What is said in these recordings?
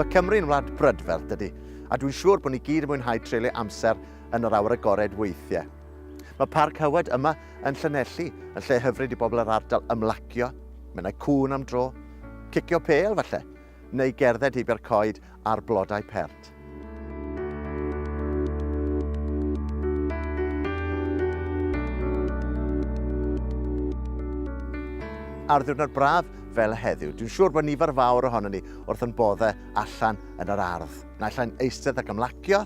Mae Cymru'n wlad brydferth, dydy, a dwi'n siŵr bod ni gyd yn mwynhau treulio amser yn yr awyr agored weithiau. Mae Parc Hywed yma Yn Llanelli, yn lle hyfryd i bobl yr ardal ymlacio, menai cŵn am dro, cicio pêl falle, neu gerdded heibio'r coed a'r blodau pert. ar ddiwrnod braf fel y heddiw. Dwi'n siŵr bod nifer fawr ohono ni wrth yn boddau allan yn yr ardd. Naill ai'n eistedd ac ymlacio,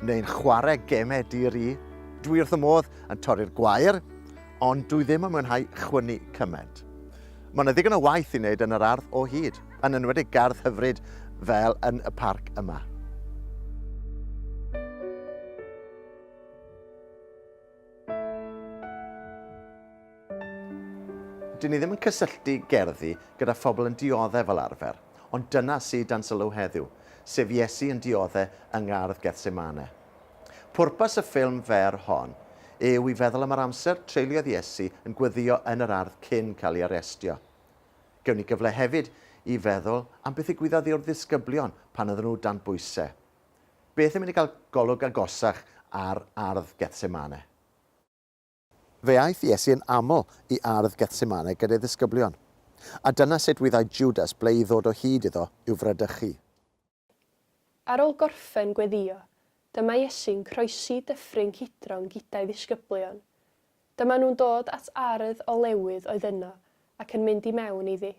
neu'n chwarae gemau dir i. Dwi wrth y modd yn torri'r gwair, ond dwi ddim yn mwynhau chwynnu cymaint. Mae yna ddigon o waith i wneud yn yr ardd o hyd, yn enwedig gardd hyfryd fel yn y parc yma. Dyn ni ddim yn cysylltu gerddi gyda phobl yn dioddef fel arfer, ond dyna sydd dan sylw heddiw, sef Iesu yn dioddef yng ngardd Gethsemane. Pwrpas y ffilm fer hon yw i feddwl am yr amser treuliodd Iesu yn gweddïo yn yr ardd cyn cael ei arestio. Gewn ni gyfle hefyd i feddwl am beth ddigwyddodd i'r ddisgyblion pan oedden nhw dan bwysau. Beth yn mynd i gael golwg agosach ar ardd Gethsemane? Fe aeth Iesu yn aml i ardd Gethsemane gyda'i ddisgyblion, a dyna sut wyddai Jwdas ble i ddod o hyd iddo i'w fradychu. Ar ôl gorffen gweddïo, dyma Iesu'n croesi Dyffryn Cydron gyda'i ddisgyblion. Dyma nhw'n dod at ardd olewydd oedd yno ac yn mynd i mewn iddi.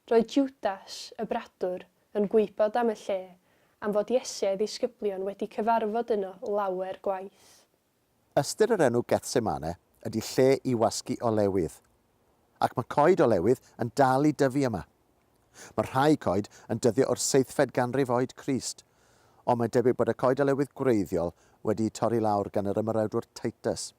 Roedd Jwdas, y bradwr, yn gwybod am y lle, am fod Iesu a'i ddisgyblion wedi cyfarfod yno lawer gwaith. Ystyr yr enw Gethsemane ydy lle i wasgu olewydd. Ac mae coed olewydd yn dal i dyfu yma. Mae rhai coed yn dyddio o'r seithfed ganrif oed Crist, ond mae'n debyg bod y coed olewydd gwreiddiol wedi'u torri lawr gan yr ymerawdwr Titus.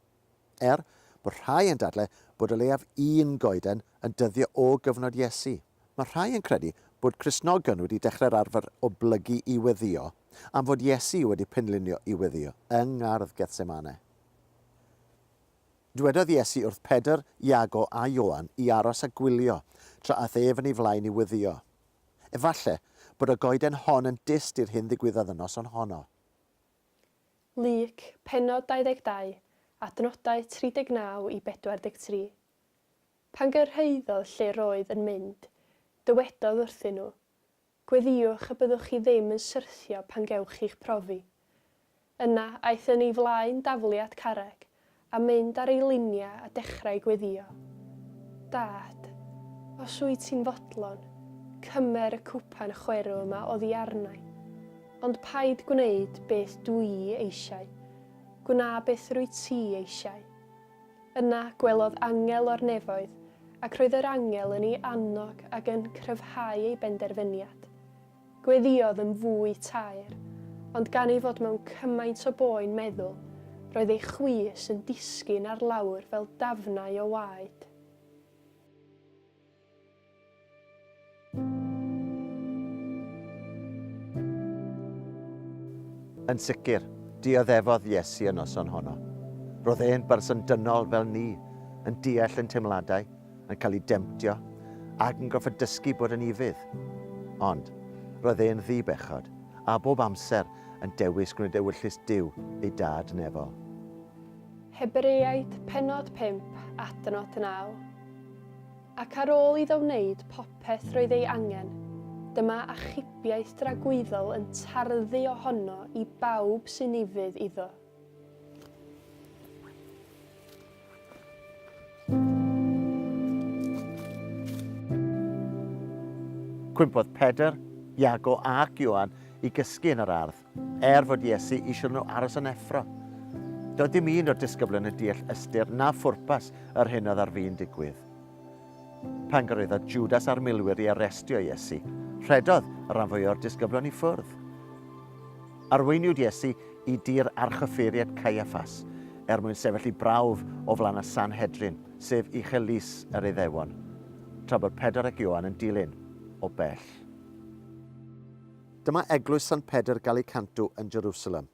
Er bod rhai yn dadlau bod o leiaf un goeden yn dyddio o gyfnod Iesu. Mae rhai yn credu bod Cristnogion wedi dechrau'r arfer o blygu i weddïo am fod Iesu wedi penlinio i weddïo yng ngardd Gethsemane. Dwedodd Iesu wrth Pedr, Iago a Ioan i aros a gwylio tra aeth ef yn ei flaen i weddïo. Efallai bod y goeden hon yn dyst i'r hyn ddigwyddodd y noson honno. Luc, pennod 22, adnodau 39 i 43. Pan gyrhaeddodd lle roedd yn mynd, dywedodd wrthyn nhw, Gweddïwch y byddwch chi ddim yn syrthio pan gewch chi'ch profi. Yna aeth yn ei flaen daflu at carreg a mynd ar ei liniau a dechrau gweddïo, Dad, os wyt ti'n fodlon, cymer y cwpan chwerw yma oddi arnai. Ond paid gwneud beth dw i eisiau, gwna beth rwyt ti eisiau. Yna gwelodd angel o'r nefoedd, ac roedd yr angel yn ei annog ac yn cryfhau ei benderfyniad. Gweddïodd yn fwy taer, ond gan ei fod mewn cymaint o boen meddwl, roedd ei chwys yn disgyn ar lawr fel dafnau o waed. Yn sicr, dioddefodd Iesu y noson honno. Roedd e'n berson dynol fel ni, yn deall ein teimladau, yn cael ei demtio, ac yn gorfod dysgu bod yn ufudd. Ond, roedd e'n ddi-bechod, a bob amser yn dewis gwneud ewyllys Duw, ei Dad nefol. Hebreaid, pennod 5, adnod 9. Ac ar ôl iddo wneud popeth roedd ei angen, dyma achubiaeth dragwyddol yn tarddu ohono i bawb sy'n ufudd iddo. Cwympodd Pedr, Iago ac Ioan i gysgu yn yr ardd. Er fod Iesu eisiau nhw aros yn effro, doedd dim un o'r disgyblion yn deall ystyr na phwrpas yr hyn oedd ar fin digwydd. Pan gyrhaeddodd Jwdas a'r milwyr i arestio Iesu, rhedodd y rhan fwyaf o'r disgyblion i ffwrdd. Arweiniwyd Iesu i dir archyffeiriad Caiaffas er mwyn sefyll i brawf o flaen y Sanhedrin, sef uchel lys yr Iddewon, tra bod Pedr ac Ioan yn dilyn o bell. Dyma eglwys Sant Pedr Galicantu yn Jerusalem.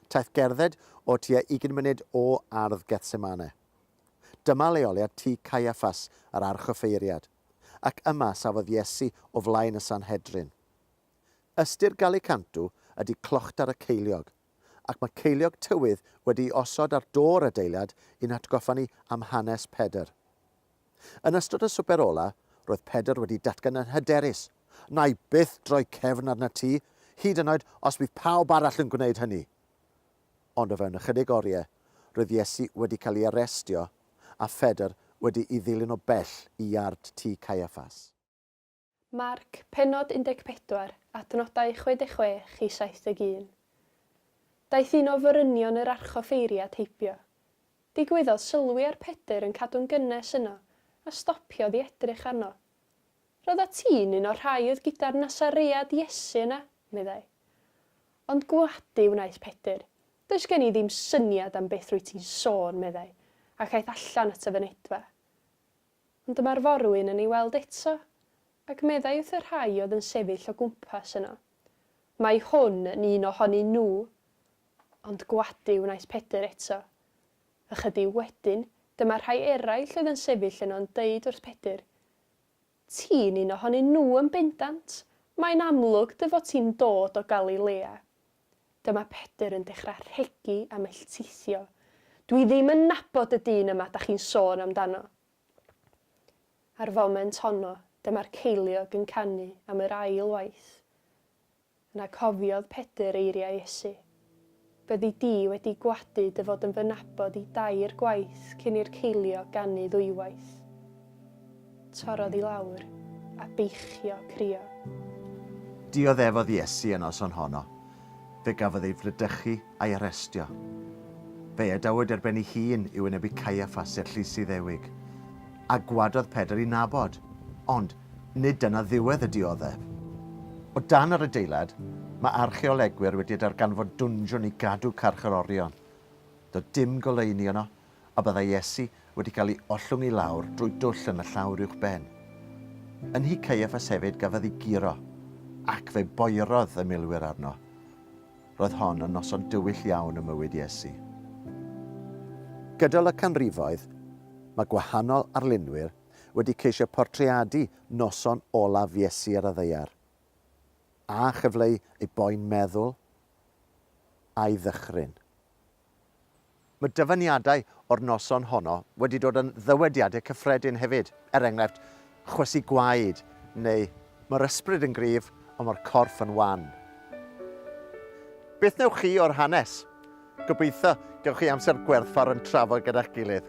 Taith gerdded o tua ugain munud o ardd Gethsemane. Dyma leoliad tŷ Caiaffas, yr archoffeiriad, ac yma safodd Iesu o flaen y Sanhedrin. Ystyr Galicantu ydy clochtar y ceiliog, ac mae ceiliog tywydd wedi'i osod ar do'r adeilad i'n hatgoffa ni am hanes Pedr. Yn ystod y swper ola, roedd Pedr wedi datgan yn hyderus, Wna i byth droi cefn arnat ti, hyd yn oed os bydd pawb arall yn gwneud hynny! Ond o fewn ychydig oriau, roedd Iesu wedi cael ei arestio a Phedr wedi'i ddilyn o bell i iard tŷ Caiaffas. Marc, pennod 14, adnodau 66 i 71. Daeth un o forynion yr archoffeiri at heibio. Digwyddodd sylwi ar Pedr yn cadw'n gynnes yno, a stopiodd i edrych arno. Roeddat ti'n un o'r rhai oedd gyda'r Nasaread Iesu yna, meddai. Ond gwadu wnaeth Pedr, Does gen i ddim syniad am beth rwyt ti'n sôn, meddai, ac aeth allan at y fynedfa. Ond dyma'r forwyn yn ei weld eto, ac meddai wrth y rhai oedd yn sefyll o gwmpas yno, Mae hwn yn un o honyn nhw! Ond gwadu wnaeth Pedr eto. Ychydig wedyn, dyma rhai eraill oedd yn sefyll yno yn deud wrth Pedr, Ti'n un o honyn nhw yn bendant! Mae'n amlwg dy fod ti'n dod o Galilea. Dyma Pedr yn dechra rhegi a melltithio, Dwi ddim yn nabod y dyn yma 'da chi'n sôn amdano. A'r foment honno, dyma'r ceiliog yn canu am yr ail waith. Yna cofiodd Pedr eiriau Iesu, Byddi di wedi gwadu dy fod yn fy nabod i dair gwaith cyn i'r ceiliog ganu ddwywaith. Torrodd i lawr, a beichio, crio. Dioddefodd Iesu y noson honno. Fe gafodd ei fradychu a'i arestio. Fe'i adawyd ar ben ei hun i wynebu Caiaffas, Erllys Iddewig. A gwadodd Pedr i nabod. Ond, nid dyna ddiwedd y dioddef. O dan yr adeilad, mae archeolegwyr wedi darganfod dwnsiwn i gadw carcharorion. Doedd dim goleuni yno, a byddai Iesu wedi cael ei ollwng i lawr drwy dwll yn y llawr uwch ben. Yn nhŷ Caiaffas hefyd gafodd ei guro, ac fe boerodd y milwyr arno. Roedd hon yn noson dywyll iawn ym mywyd Iesu. Gydol y canrifoedd, mae gwahanol arlunwyr wedi ceisio portreadu noson olaf Iesu ar y ddaear, a chyfleu ei boen meddwl a'i ddychryn. Mae dyfyniadau o'r noson honno wedi dod yn ddywediadau cyffredin hefyd, er enghraifft, chwysu gwaed, neu mae'r ysbryd yn gryf ond mae'r corff yn wan. Beth wnewch chi o'r hanes? Gobeithio gewch chi amser gwerthfawr yn trafod gyda'ch gilydd.